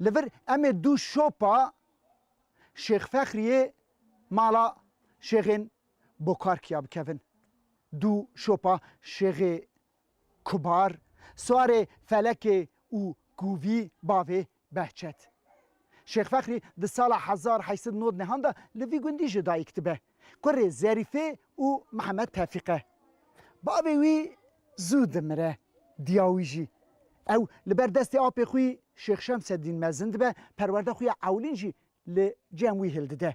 Li vir em ê du şopa Şêx Fexriyê mala Şêxên Bokarkiya bikevin. Du şopa Şêxê Kubar, Swarê Felekê û Kûvî bavê Behçet. Şêx Fexrî di sala hezar heşt sed nod nehan de li vî gundî jidayîk dibe. kurê Zerîfê û Mihemed Tevfîq e. Bavê wî zû dimire, diya wî jî. Ew li ber destê apê xwî Şêx Şemseddîn mezin dibe, perwerde xwe ya ewlîn jî li cem wî hildide.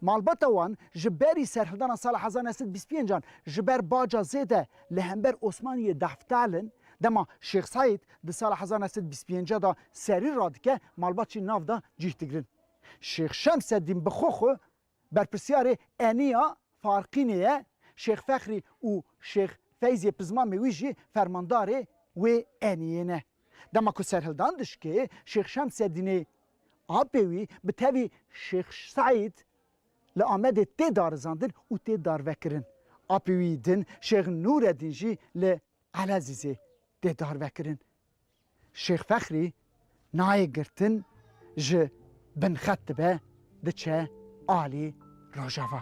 Malbata wan ji berî serhildana sala hezar neh sed bîst pênc an ji ber baca zêde li hember Osmaniyê dahftal in, dema Şêx Seîd di sala hezar neh sed bîst pênc de serî radike malbat jî nav da cîh digirin. Şêx Şemseddîn bi xwe xwe Berpirsyarê Eniya Farqînê ye Şêx Fexrî û Şêx Feyzê Pizmamê wî jî fermandarê wê Eniyê ne. Dema ku serhildan dişkê Şêx Şemseddînê apê wî bi tevî Şêx Seîd li Amedê tê darizandin û tê darvekirin. Apê wî din Şêx Nûreddîn jî li Elezîzê tê darvekirin. Şêx Fexrî nayê girtin ji binxet dibe diçe alî Rojava.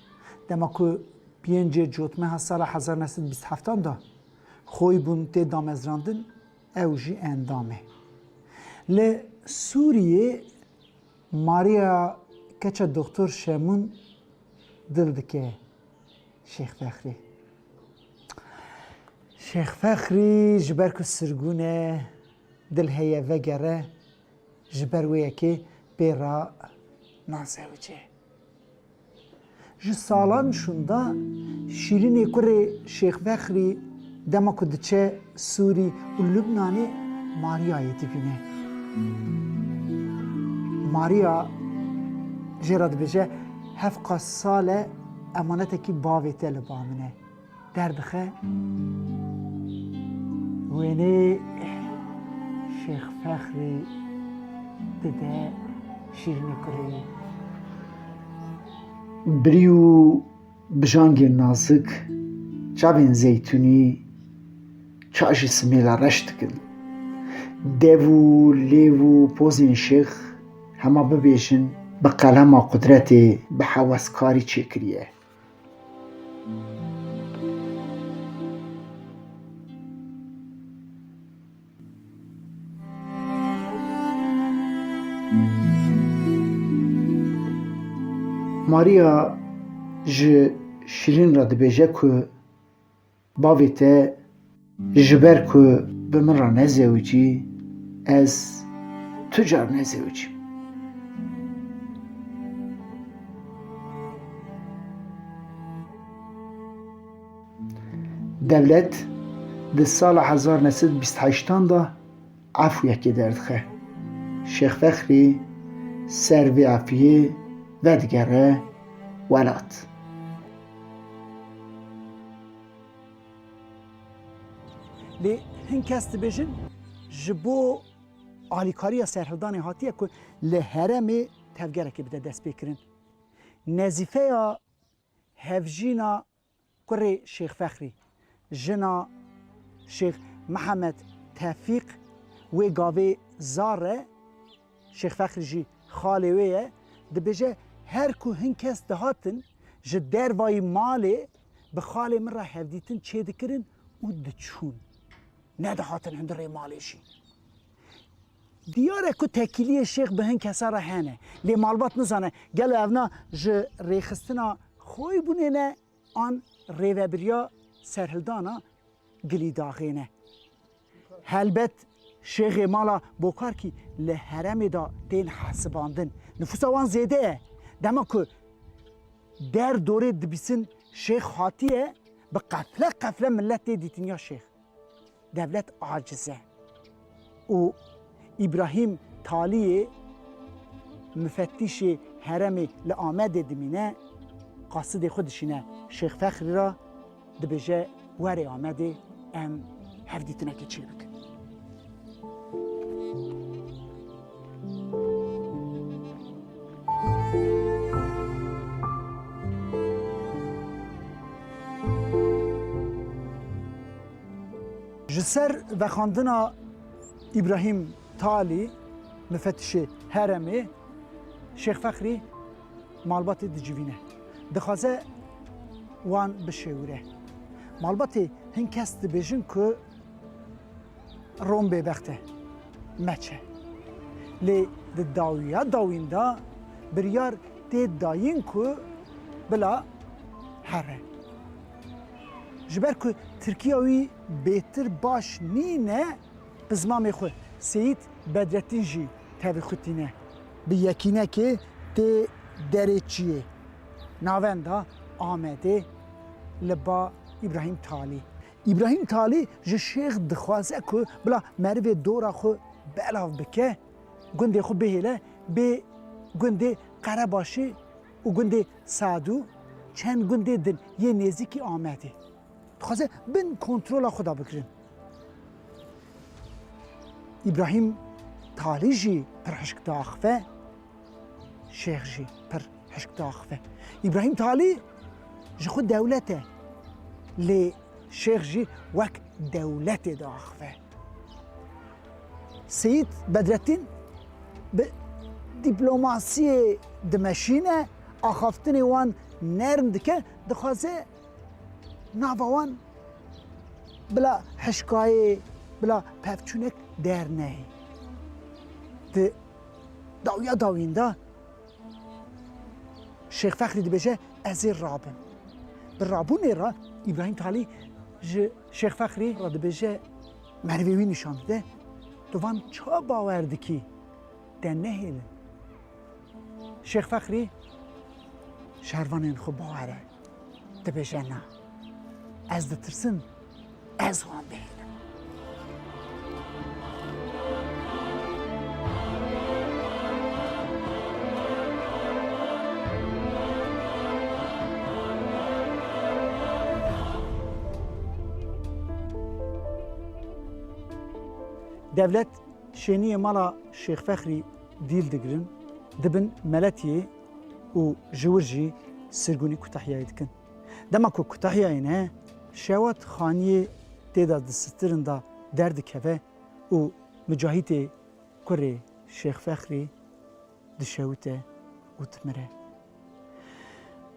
Dema ku pêncê cotmeha sala hezar neh sed û bîst heftan de xweyî bûn tê damezrandin, ew jî endam e. Li Sûriyê Maria keça Doxtor Şemûn dil dike Şêx Fexrî. Şêx Fexrî ji ber ku sirgûn e, dil heye vegere, ji ber wê yekê pê re nazewice. Ji salan şûnda Şîrînê kurê Şêx Fexrî dema ku diçe Sûrî û Lubnanê Marîyayê dibîne. Marîya jê re dibêje, Hevqas sal e emanetekî bavê te li ba min e. Derdixe wênê Şêx Fexrî dide Şîrînê Kureyî. Birî û bijangên nazik çavên zeytûnî ça jî simêla reş dikin. Dev û lêv û pozên Şêx hema bibêjin bi qelema qudretê bi heweskarî çêkiriye. Maria ji Şîrîn re dibêje ku Bavê te ji ber ku bi min re nezewicî, ez tu car nezewicîm. Dewlet di sala hezar neh sed û bîst heştan de Afûyekê derdixe. Şêx Fexrî ser vê afûyê vedigere welat. Lê hin kes dibêjin ji bo alîkariya serhildanê hatiye ku li heremê tevgerekê bide destpêkirin. Nezîfeya hevjîna Kurê Şêx Fexrî, jina Şêx Mihemed Tevfîq wê gavê zar e, Şêx Fexrî jî xalê wê ye, dibêje, Her ku hin kes dihatin ji dervayî malê bi xalê min re hevdîtin çêdikirin û diçûn. Nedihatin hundirê malê jî. Diyar e ku tekîliyên şêx bi hin kesan re hene, lê malbat nizane gelo ev na ji rêxistina xweyî bûnê ne an rêvebiriya serhildana Gilîdaxê ne. Helbet şêxê mala Bokarkî li heremê de tên hesibandin. Nifûsa wan zêde ye. Dema ku der dorê dibîsin şêx hatiye, bi qefle qefle milet tê dîtiniya şêx. Devlet aciz e û Îbrahîm Taliyê mufettîşê heremê li Amedê dimîne, qasidê xwe dişîne Şêx Fexrî re, dibêje were Amedê em hevdîtinekê çêbikin. Ji ser vexandina Îbrahîm Talî mifetişê heremê Şêx Fexrî malbatê dicivîne. Dixwaze wan bişêwire. Malbatê hin kes dibêjin ku Rom bêbext e, meç e. Lê di dawiya dawîn de biryar tê dayîn ku bila here. Ji ber ku Tirkiya wî bêtir baş nîne bi zimamê xwe, Seyîd Bedrettîn jî tevî xwe tîne. Bi yekînekê tê derê çiyê navenda Amedê li ba Îbrahîm Talî. Îbrahîm Talî ji şêx dixwaze ku bila merivê dora xwe belav bike, gundê xwe bihêle bê gundê Qerebaşê û gundê Sad û çend gundê din yê nêzîkî Amedê. Dixwaze bin kontrola xwe de bigirin. Îbrahîm Talî jî pir hişk diaxive. Şêx jî pir hişk diaxive. Îbrahîm Talî ji xwe dewlet e lê şêx jî wek dewletê diaxive. Seyîd Bedrettîn bi dîplomasiyê dimeşîne, axaftinê wan nerm dike, dixwaze nava wan bila hişkayê, bila pevçûnek dernehê. Di Dawiya dawiyên de Şêx Fexrî dibêje ez ê rabim. Di rabûnê re Îbrahîm Talî ji Şêx Fexrî re dibêje merivê wî nîşan dide, tu van ça bawer dikî te nehêlin. Şêx Fexrî şervanên xwe bawere dibêje na. Ez ditirsim Ez wan bihêlim. Devlet şêniyê mala Şêx Fexrî dîl digirin, dibin meletiyê û ji wir jî sirgûnî kutehiyayê dikin. Dema ku kutahiya yê ne şewat xaniyê tê de di sitirin de derdikeve û Micahîtê kurê Şêx Fexrî dişewite û dimire.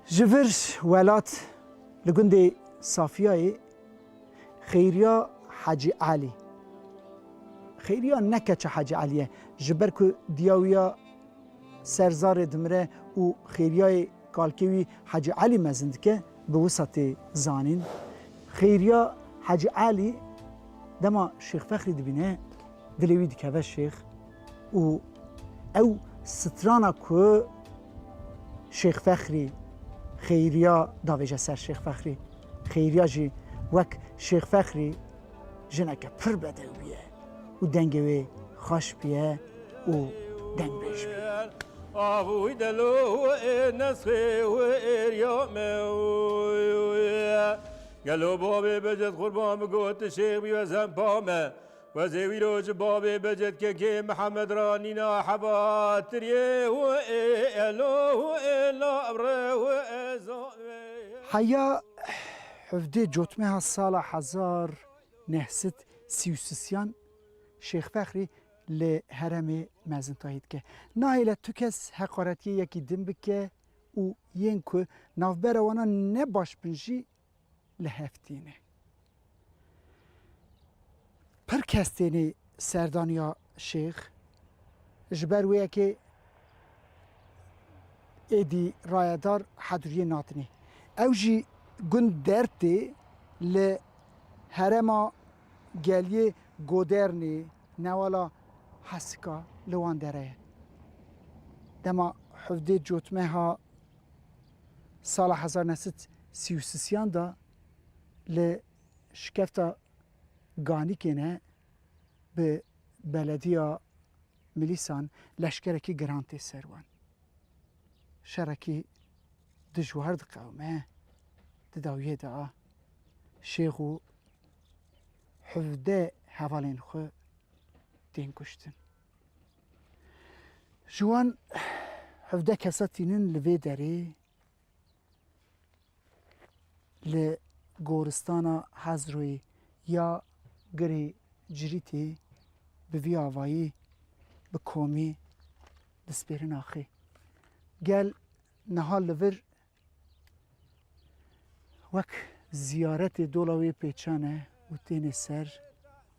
Ji vir welat li gundê Safiyayê Xeyriya Hecî Elî, Xeyriya ne keça Hecî Elî ye, ji ber ku diya wî ya ser zarê dimire û Xeyriyayê Kalkê wî Hecî Elî mezin dike bi wisa tê zanîn. Xêriya Hecî Elî dema Şêx Fexrî dibîne dilê wî dikeve şêx û ew strana ku Şêx Fexrî Xêriya davêje ser Şêx Fexrî. Xêriya jî wek Şêx Fexrî jineke pir bedewî ye. û dengê wê xweş biye û dengbêj bî. Avûy delo ê nesê wê êriya me Gelo bavê beced qurban bi got tu şêx bî we zempa me Wezê wî roj bavê beced kekê Mihemed ra nîna heva tiriyê wê ê elo wê ê labre wê ê zan wê ê. Heya hevdê cotmeha sala hezar Nehsit Sîûsisyan, Şêx Fexrî li heremê mezintayî dike. Nahêle tu kes heqaretiyê yekî din bike û yên ku navbera wana ne baş bin jî li hev tîne. Pir kes têne serdaniya Şêx, ji ber wê yekê êdî rayedar heduriyê natinê. Ew jî gund der tê li herêma geliyê Godernê newala Hesika li wan dere ye. Dema hevdê cotmeha sala hezar û neh sed sî û sisiyan de li şikefta Ganikê ne bi belediya milîsan leşkerekî giran tê ser wan. Şerekî dijwar diqewime di dawiyê de a şêx û hevde hevalên xwe tên kuştin. Ji wan hevde kesa tînin li vê derê Li goristana Hezroyê ya girê Cirîtê bi vî avayî bi komî dispêrin axê. Gel niha li vir wek ziyaretê dola wê pêçan e û têne ser.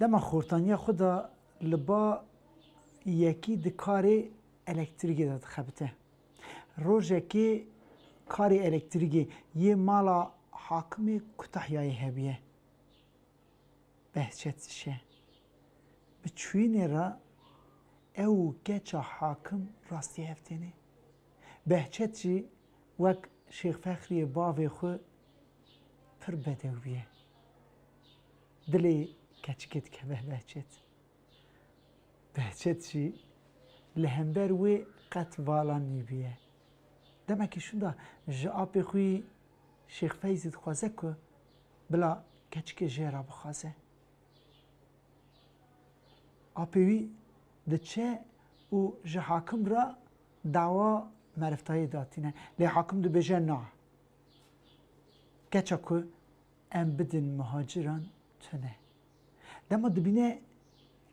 Dema xortaniya xwe de li ba yekî di karê elektrîkê de dixebite. Rojekê karê elektrîkê yê mala Hakimê Kutahyayê hebûye. Behçet Şe, Bi çûyînê re ew û keça Hakim rastî hev têne. Behçet jî Wek Şêx Fexriyê bavê xwe pir bedewî ye. Dilê keçikê dikeve Behçet. Behçet jî li hember wê qet vala nîbûye. Demekî şûnda ji apê xwî Şêx Feyzî dixwaze ku bila keçikê jê re bixwaze. Apê wî diçe û ji hakim re Dawa merivtayê da tîne lê hakim dibêje na. Keça ku em bidin muhaciran tune. Dema dibîne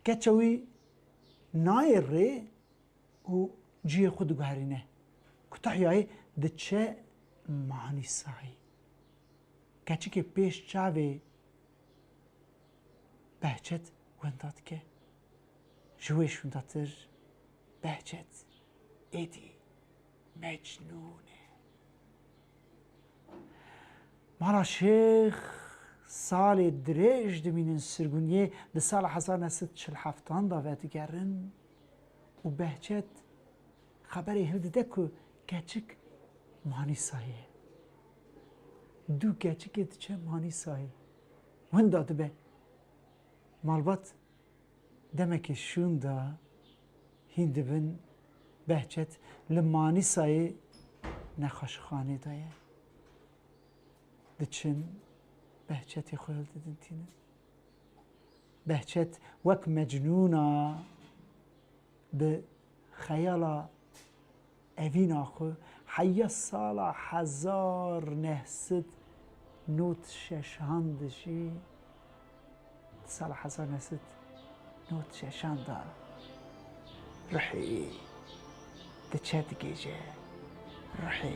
keça wî nayê rê û cihê xwe diguherîne. Kutahyayê diçe Manîsayê. Keçikê pêş çavê Behçet wenda dike. Ji wê şûndatir Behçet êdî mecnûn e. Ma ra şêx salê dirêj dimînin sirgûniyê di sala hezar neh sed çil heftan de vedigerin û Behçet xeberê hiv dide ku keçik Manîsayê ye. Du keçikê diçe Manîsayê. Winda dibe. Malbat Demekê şûn da hîn dibin Behçet li Manîsayê nexweşixanê de ye. Diçin Behçetê xwe hildidin tînin. Behçet wek mecnûna bi xeyala Evîna xwe heya sala hezar neh sed not şeşan de jî di sala hezar neh sed not şeşan de ruhê wî diçe digihîje ruhê.